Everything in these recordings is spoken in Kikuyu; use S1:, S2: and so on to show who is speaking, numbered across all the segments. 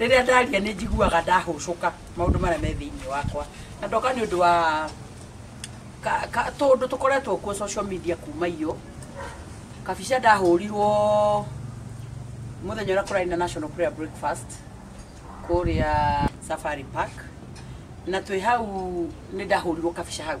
S1: rĩrĩa ndaria nĩ njiguaga ndahũcũka maũndũ marĩa me thĩinĩ wakwa na ndoka nĩ ũndũ wa ka- ka- tũũndũ tũkoretwo kuo social media kuma iyo kabica ndahũrirwo mũthenya ũrĩa kũrarĩ na national prayer breakfast kũrĩa safari park na twĩ hau nĩ ndahũrirwo kabica hau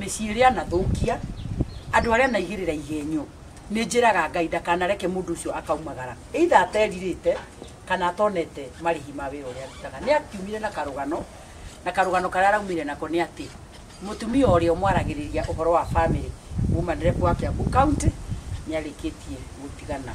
S1: Mĩciĩ ĩrĩa anathũkia, andũ arĩa anaigĩrĩra igenyo, nĩnjĩraga Ngai ndakanareke mũndũ ũcio akaumagara, either aterirĩte kana atonete marĩhi ma wĩra ũrĩa arutaga. Nĩakiumire na karũgano, na karũgano karĩa araumire nako nĩ atĩ, mũtumia ũrĩa ũmwaragĩrĩria ũhoro wa bamĩrĩ, mũmanrep wa Kiambu County, nĩarĩkĩtie gũtigana.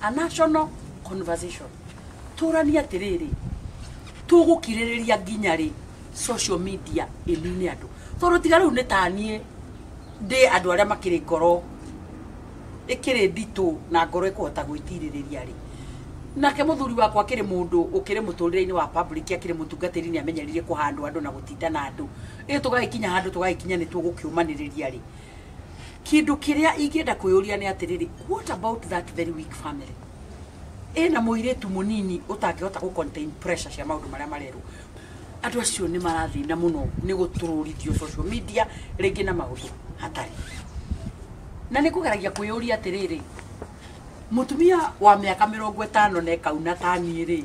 S1: a national conversation tũrania atĩrĩrĩ tũgũkirĩrĩria nginya rĩ social media ĩnine andũ tondũ tiga rĩu nĩ taniĩ ndĩ andũ arĩa makĩrĩ ngoro ĩkĩrĩ nditũ na ngoro ĩkũhota gwĩtirĩrĩria rĩ nake mũthuri wakwa akĩrĩ mũndũ ũkĩrĩ mũtũrĩre-inĩ wa public akĩrĩ mũtungatĩri nĩ amenyerire kũhandwo andũ na gũtinda na andũ ĩ tũgagĩkinya handũ tũgagĩkinya nĩ tũgũkĩũmanĩrĩria rĩ kindu kiria ingienda kuyuria ni atiriri what about that very weak family ina muiritu munini utangihota ku contain pressure cia maundu maria marerwo andu acio ni marathina muno ni gutururithio social media ringi na maundu hatari na ni kugeragia kuyuria atiriri mutumia wa miaka mirongo itano na ikauna tani ri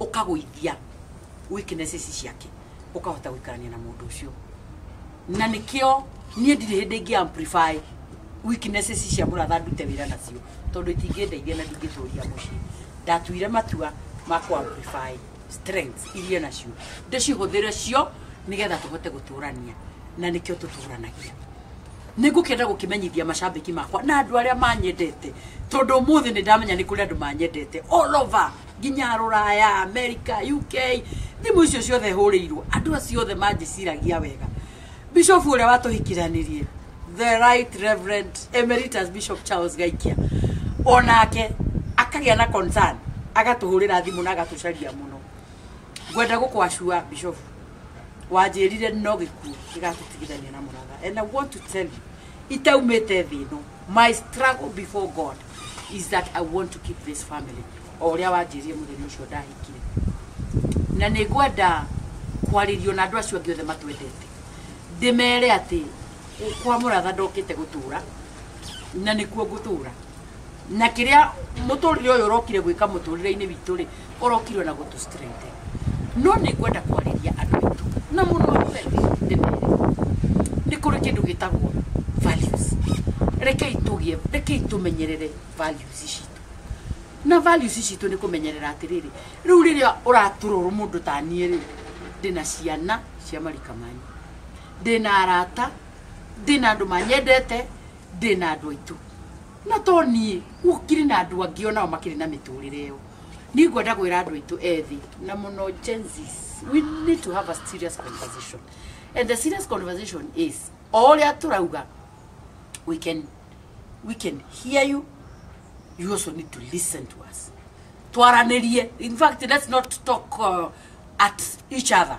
S1: ũkagũithia weaknesses ciake ũkahota gũikarania na mũndũ ũcio na nĩkĩo niĩ ndirĩ hĩndĩ ingĩ amplify weaknesses cia mũratha ndute wĩra nacio tondũ itingĩndeithia na ndingĩtũria mũciĩ ndatuire matua ma kũ amplify strengths iria nacio ndĩcihũthĩre cio nĩgetha tũhote gũtũrania na nĩkĩo tũtũranagia nä ngå kenda gå kä menyithia macambäki makwa na andå arä a manyendete tondå må thä nä ndamenya nä kå rä andå manyendete all over nginya rũraya america uk thimũ icio ciothe hũrĩirwo andũ acio othe manjĩciragia wega bishop ũrĩa watũhikiranirie the right reverend emeritus bishop charles gaikia onake akagĩa na concern agatũhũrĩra thimũ na agatũcaria mũno ngwenda gũkwacua bishop wanjĩrire no gĩkuũ gĩgatũtigithania na mũratha and i want to tell you itaumĩte thĩ ĩno my struggle before god is that I want to keep this family o ũrĩa wanjĩrie mũthenya ũcio ndahikire na nĩ ngwenda kwarĩrio na andũ acio angĩ othe matwendete ndĩmere atĩ kwa mũratha ndokĩte gũtũra na nĩkuo ngũtũra na kĩrĩa mũtũrĩre ũyũ ũrokire gwĩka mũtũrĩre-inĩ witũ rĩ ũrokirwe na gũtũ strengthen no nĩ ngwenda kwarĩria andũ aitũ na mũndũ wa mbere ndĩmere nĩ kũrĩ kĩndũ gĩtagwo values rekei tũgĩe rekei tũmenyerere values citũ na values citũ nĩ kũmenyerera atĩrĩrĩ rĩu rĩrĩa ũratũrorwo mũndũ ta niĩ rĩ ndĩna ciana cia marika manyu ndĩna arata ndĩna andũ manyendete ndĩna andũ aitũ No to niĩ, gũkĩrĩ na andũ angĩ o nao makĩrĩ na mĩtũrĩre ĩyo. Niĩ ngwenda kwĩra andũ aitũ ethĩ na mũno Gen Zs, we need to have a serious conversation. And the serious conversation is, o ũrĩa tũrauga, we can, we can hear you, you also need to listen to us. Twaranĩrie. In fact, let's not talk uh, at each other.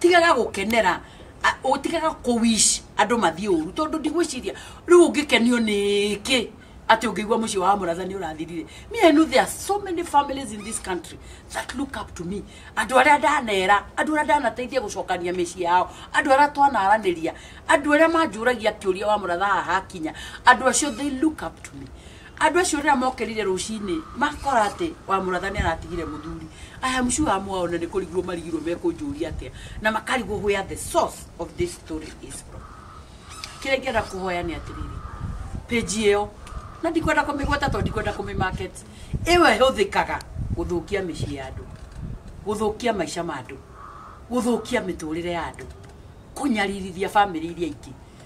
S1: tigaga gũkenera a- ũtigaga kũwish andũ mathiĩ ũru tondũ ndigwĩciria rĩu ũngĩkenio nĩkĩ atĩ ũngĩigua mũciĩ wa mũratha nĩ ũrathirire me I know there are so many families in this country that look up to me andũ arĩa ndanera andũ arĩa ndanateithia gũcokania mĩciĩ yao andũ arĩa twanaranĩria andũ arĩa manjũragia kĩũria wa mũratha haha hakinya andũ acio they look up to me Andũ acio rĩrĩa mokerire rũcinĩ makora atĩ wa mũratha nĩ aratigire mũthuri. I am sure amwe ao na nĩ kũrigwo marigirwo mekũnjũria atĩa na makarigwo where the source of this story is from. Kĩrĩa ingĩenda kũhoya nĩ atĩrĩrĩ, page ĩyo na ndikwenda kũmĩgweta tondũ ndikwenda kũmĩmarket, ĩyo ĩhũthĩkaga gũthũkia mĩciĩ ya andũ, gũthũkia maica ma andũ, gũthũkia mĩtũrĩre ya andũ, kũnyaririthia famĩlĩ iria ingĩ.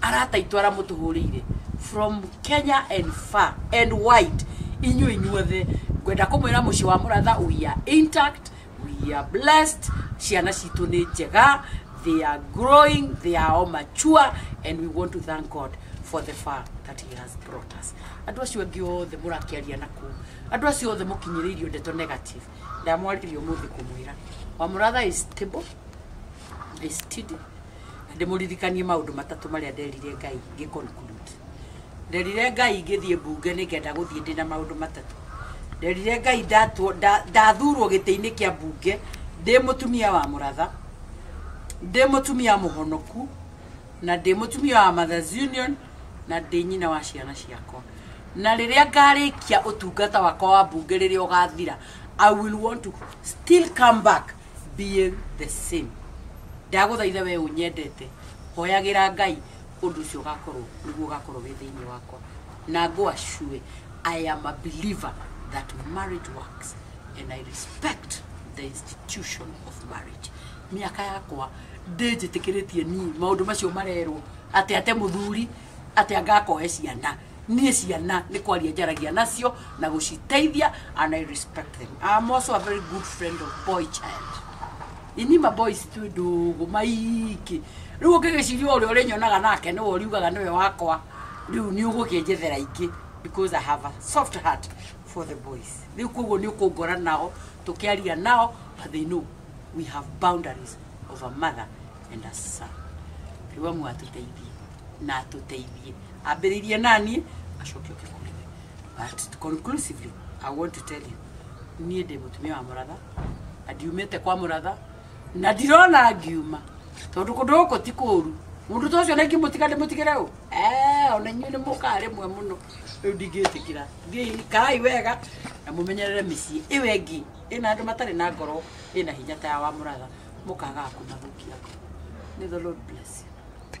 S1: arata itũ ara mũtũhũrĩire from kenya and far and wide inyuĩ inyuothe ngwenda kũmwĩra mũciĩ wa mũratha we are intact we are blessed ciana citũ nĩ njega they are growing they are all mature and we want to thank god for the far that he has brought us andå acio angä othe må rakäaria na kå andå acio othe må kinyä rä irio ndeto negative ndamwaririo må thä kå mwä ra wamå ratha is stable I study. Na ndĩmũririkanie maũndũ matatũ marĩa nderire ngai ngĩ conclude nderire ngai ngĩthiĩ mbunge nĩ ngenda gũthiĩ ndĩ na maũndũ matatũ nderire ngai ndatwo- nda- ndathurwo gĩtĩ-inĩ kĩa mbunge ndĩ mũtumia wa mũratha ndĩ mũtumia mũhonoku na ndĩ mũtumia wa mothers union na ndĩ nyina wa ciana ciakwa na rĩrĩa ngarĩkia ũtungata wakwa wa mbunge rĩrĩa ũgathira i will want to still come back being the same ndagũthaitha we ũnyendete hoyagĩra ngai ũndũ ũcio ũgakorwo nĩguo ũgakorwo wĩ thĩinĩ wakwa na ngwa cue i am a believer that marriage works and i respect the institution of marriage mĩaka yakwa ndĩnjĩtĩkĩrĩtie niĩ maũndũ macio marerwo atĩ ate mũthuri atĩ angakoe ciana Niĩ ciana nĩ kwaria njaragia nacio na gũciteithia and I respect them. I am also a very good friend of boy child. Ini ma boys twĩ ndũgũ maingĩ. Rĩu ũngĩgĩciria ũrĩa ũrĩnyonaga nake nĩwe ũriugaga nĩwe wakwa. Rĩu nĩ ũgũkĩnjethera ingĩ because I have a soft heart for the boys. Rĩu koguo nĩ ũkũngora nao tũkĩaria nao but they know we have boundaries of a mother and a son. Riwa mwatuteithie. na atũteithie ambĩrĩirie naniĩ acoke oke kũrĩ we but conclusively i want to tell you niĩ ndĩ mũtumia wa mũratha na ndiumĩte kwa mũratha na ndirona ngiuma tondũ kũndũ gũkũ ti kũru mũndũ ta ũcio na ingĩmũtiga ndĩmũtigĩre ũ Eh, ona inyuĩ nĩ mũkaa rĩmwe mũno rĩu ndingĩtĩkĩra Thiĩi, kaai wega na mũmenyerere mĩciĩ ĩyo ĩngĩ ĩna andũ matarĩ na ngoro ĩna hinya ta ya wa mũratha mũkaga kũmathũkia ngoro. May the Lord bless you.